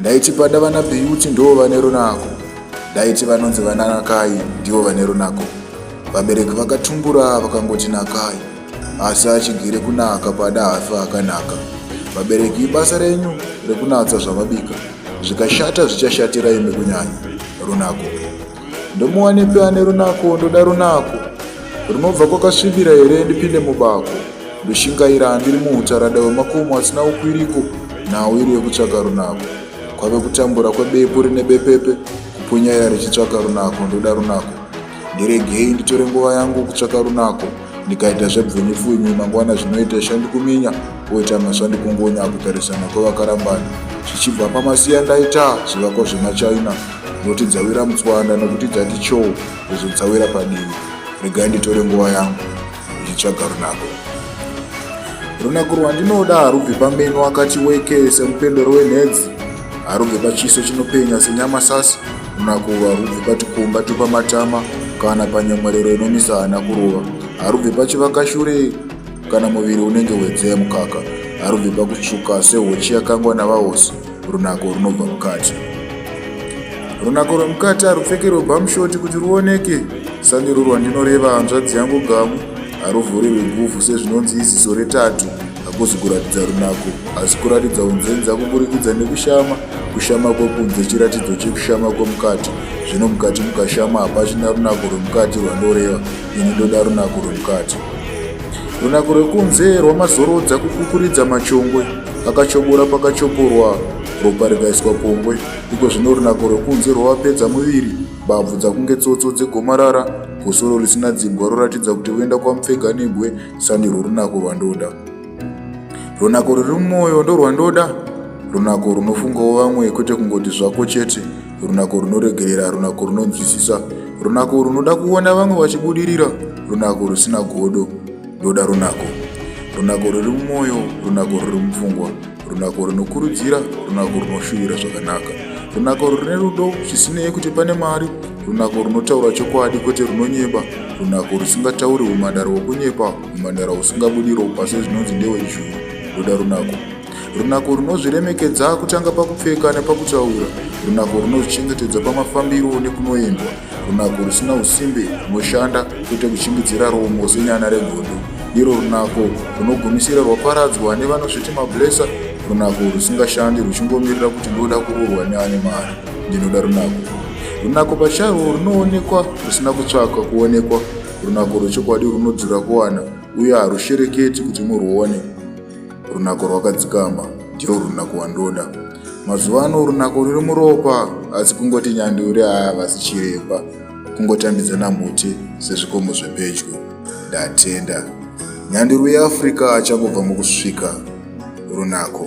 Ndaiti pada vana Beauty ndoo vane runako. Ndaiti vanonzi vana Nakai ndivo vane runako. Vabereki vakatumbura vakangoti Nakai asi achigere kunaka pada hafi akanaka. Vabereki ibasa renyu rekunatsa zvamabika zvikashata zvichashatira imi kunyanya runako. ndomuwanepi ane runako ndoda runako runobva kwakasvibira here ndipinde mubako ndoshingaira andiri muutarada wemakomo asina ukwiriko nhau iri yekutsvaka runako kwave kutambura kwebepu rine bepepe kupunyaira richitsvaka runako ndoda runako ndiregei nditore nguva yangu kutsvaka runako ndikaita zvebvunipfunyi mangwana zvinoita shandikuminya oita masvandikungonya kutarisana kwevakarambana zvichibva pamasiya ndaita zvivako zvemachina Noti dzawira mutswanda nokuti dzati choo izvo dzawira padivi. Regai nditore nguva yangu ndichitsvaga runako. Runako rwandinoda harubvi pameno akati weke semupendero wenhedzi. Harubvi pachiso chinopenya senyama sasi. Runako urwu harubvi patikumba tupamatama kana panyemwerero inomisa hana kurova. Harubvi pachivakashure kana muviri unenge wedzee mukaka. Harubvi pakutsvuka sehochi yakangwa navahosi. Runako runobva mukati. Runako rwemukati harupfekerwe bhamushoti kuti ruoneke. Sandiro rwandinoreva hanzvadzi yangu gamu haruvhurirwi guvhu sezvinonzi iziso retatu. Hakuzi kuratidza runako, asi kuratidza unzenza kuburikidza nekushama. Kushama kwekunze chiratidzo chekushama kwemukati. Zvino mukati mukashama hapachina runako rwemukati rwandoreva. Ini ndoda runako rwemukati. Runako rwekunze rwamazorodza kukukuridza machongwe. Akachobora pakachoporwa ropa rikaiswa pongwe, iko zvino runako rwekunze rwavapedza muviri, mbabvu dzakunge tsotso dzegomarara, gosoro risina dzimbwa roratidza kuti voenda kwamupfega negwe, sandirwo runako rwandoda. Runako ruri mumwoyo ndorwandoda, runako runofungawo vamwe kwete kungoti zvako chete, runako runoregerera, runako runonzwisisa, runako runoda kuona vamwe vachibudirira, runako rusina godo. ndoda runako runako ruri mumwoyo runako ruri mupfungwa runako runokurudzira runako runoshuvira zvakanaka runako rune rudo zvisinei kuti pane mari runako runotaura chokwadi kwete runonyeba runako rusingatauri umandara wokunyepa umandara usingabudi ropa sezvinonzi ndewejuu ndoda runako Runako runozviremekedza kutanga pakupfeka nepakutaura. Runako runozvichengetedza pamafambiro nekunoendwa. Runako rusina usimbe runoshanda kwete kuchingidzira romo senyana regondo. Iro runako runogumisira rwaparadzwa nevanozviti mablesa. Runako rusingashandi ruchingomirira kuti ndoda kuroorwa neane mari. Ndinoda runako. Runako pacharwo runoonekwa rusina kutsvaka kuonekwa. Runako rwechokwadi runodzura kuwana uye harushereketi kuti murwuone. Runako rwakadzikama ndiyo runako wandoda. Mazuva ano runako ruri muropa asi kungoti nyanduri haavasi chiremba kungotambidzana muti sezvikomo zvepedyo. Ndatenda. Nyanduri yeAfrica achangobva mukusvika runako.